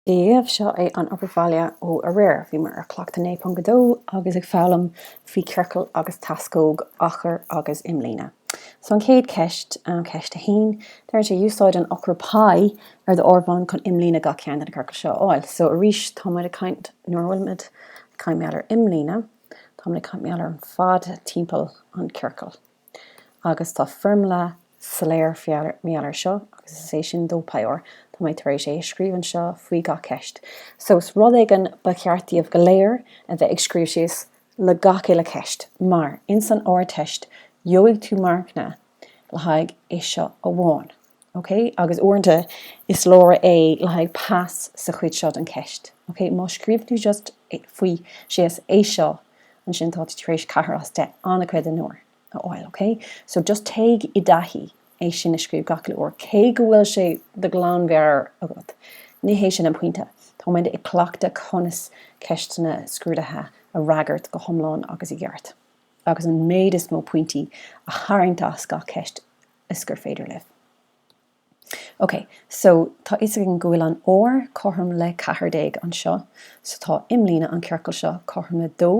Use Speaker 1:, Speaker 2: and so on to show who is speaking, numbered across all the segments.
Speaker 1: Daoibh, seo é an obair bhaile ó aréir. Bhíomar ar Chleachtadh 9.2 agus ag foghlaim faoi ciorcal agus teascóg, achar agus imlíne. So an chéad ceist, ceist a haon, deir sé Úsáid an eochair π ar do áireamhán chun imlíne gach ceann de na ciorcail seo a fháil. So arís tá muid ag caint, nuair a bhfuil muid ag caint mar gheall ar imlíne, tá muid ag caint mar gheall ar an fad timpeall an chiorcail. Agus tá foirmle soiléir mar gheall ar seo, agus is é sin dó Pi R, tá mé tar éis é a scríobh anseo faoi gach ceist. So is rud éigin ba cheart daoibh go léir a bheith ag scríobh síos le gach uile ceist, mar in san Ardteist gheobhaidh tú marcanna le haghaidh é seo amháin. ok, agus uaireanta is leor é le haghaidh pass sa chuid seo den cheist, ok, má scríobhann tú just faoi, síos, é seo, ansin tá tú tar éis ceathair as deich, an-chuid den uair, a fháil, ok, so just téigh i dtaithí é sin a scríobh gach uile uair, cé go bhfuil sé de ghlanmheabhair agat, ní hé sin an pointe, táimid ag cleachtadh conas ceisteanna scrúdaithe a fhreagairt go hiomlán agus i gceart, agus an méid is mó pointí a tharraingt as gach ceist, is gur féidir libh. Ok, so tá fhios againn go bhfuil an R cothrom le ceathair déag anseo, so tá imlíne an ciorcail seo cothrom le dó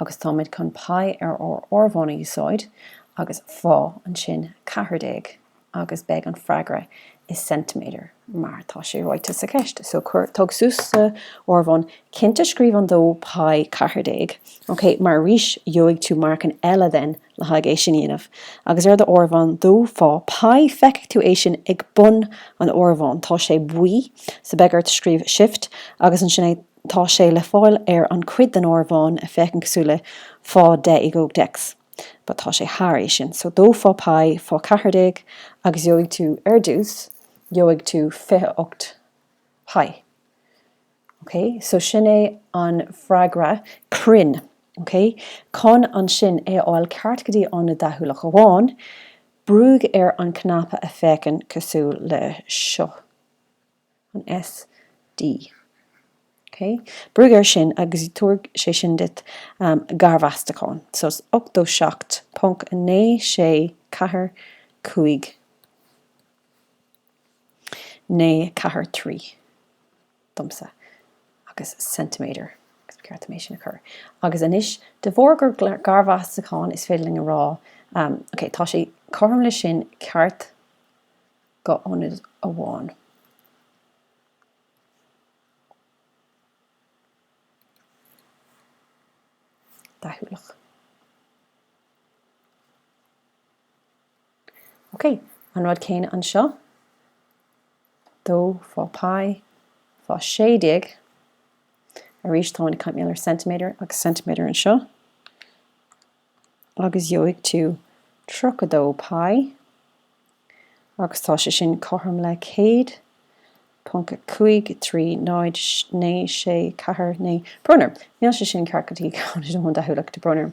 Speaker 1: agus táimid chun Pi ar ár áireamhán a úsáid agus fá ansin ceathair déag agus beidh an freagra i centimeter mar tá sé ráite sa cheist. So cuir, tóg suas sa áireamhán, cinnte scríobh an dó Pi ceathair déag, ok, mar arís gheobhaidh tú marcanna eile then, le haghaidh é sin a dhéanamh. Agus ar do áireamhán dó fá Pi, feicfidh tú é sin ag bun an áireamháin. Tá sé buí, so beidh ort scríobh shift agus ansin é. Tá sé le fáil ar an cuid den áireamhán a fhéachann cosúil le fá deich i gcumhacht x. But tá sé thar é sin. So dó fá Pi fá ceathair déag agus gheobhaidh tú, ar dtús, gheobhaidh tú fiche ocht Pi. Ok, so sin é an freagra cruinn. Ok, chun ansin é a fháil ceart go dtí ionad deachúlach amháin, brúigh ar an cnaipe a fhéachann cosúil le seo, an SD. Ok, brúigh air sin agus tabharfaidh sé sin duit garmheastachán. So is 87.9645. naoi ceathair trí domsa agus ceintiméadar agus ba cheart dom é sin a chur. Agus anois, de bharr gur garmheastachán, is féidir linn a rá, ok, tá sé cothrom leis sin, ceart go hionad amháin deachúlach. Ok, an rud céanna anseo, dó fá pi fá sé déag, arís táimid ag caint ar centimeter agus centimeter anseo, agus gheobhaidh tú tríocha dó pi, agus tá sé sin cothrom le céad, ponc a cúig trí náid naoi sé ceathair naoi. Brón orm, níl sé sin ceart go dtí ceann amháin deachúlach, tá brón orm.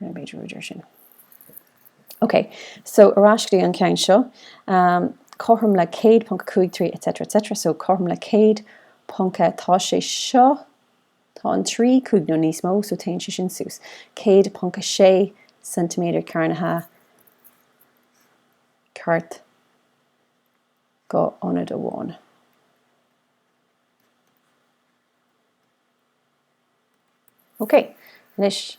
Speaker 1: Ná b'fhéidir a rá deir sin. Ok, so ar ais go dtí an ceann seo, cothrom le 100.53 etc etc, so cothrom le 100 ponc a, tá sé seo, tá an 3 cúig nó níos mó, so téann sé sin suas, 100.6 ceintiméadar cearnaithe ceart go hionad amháin. Ok, anois.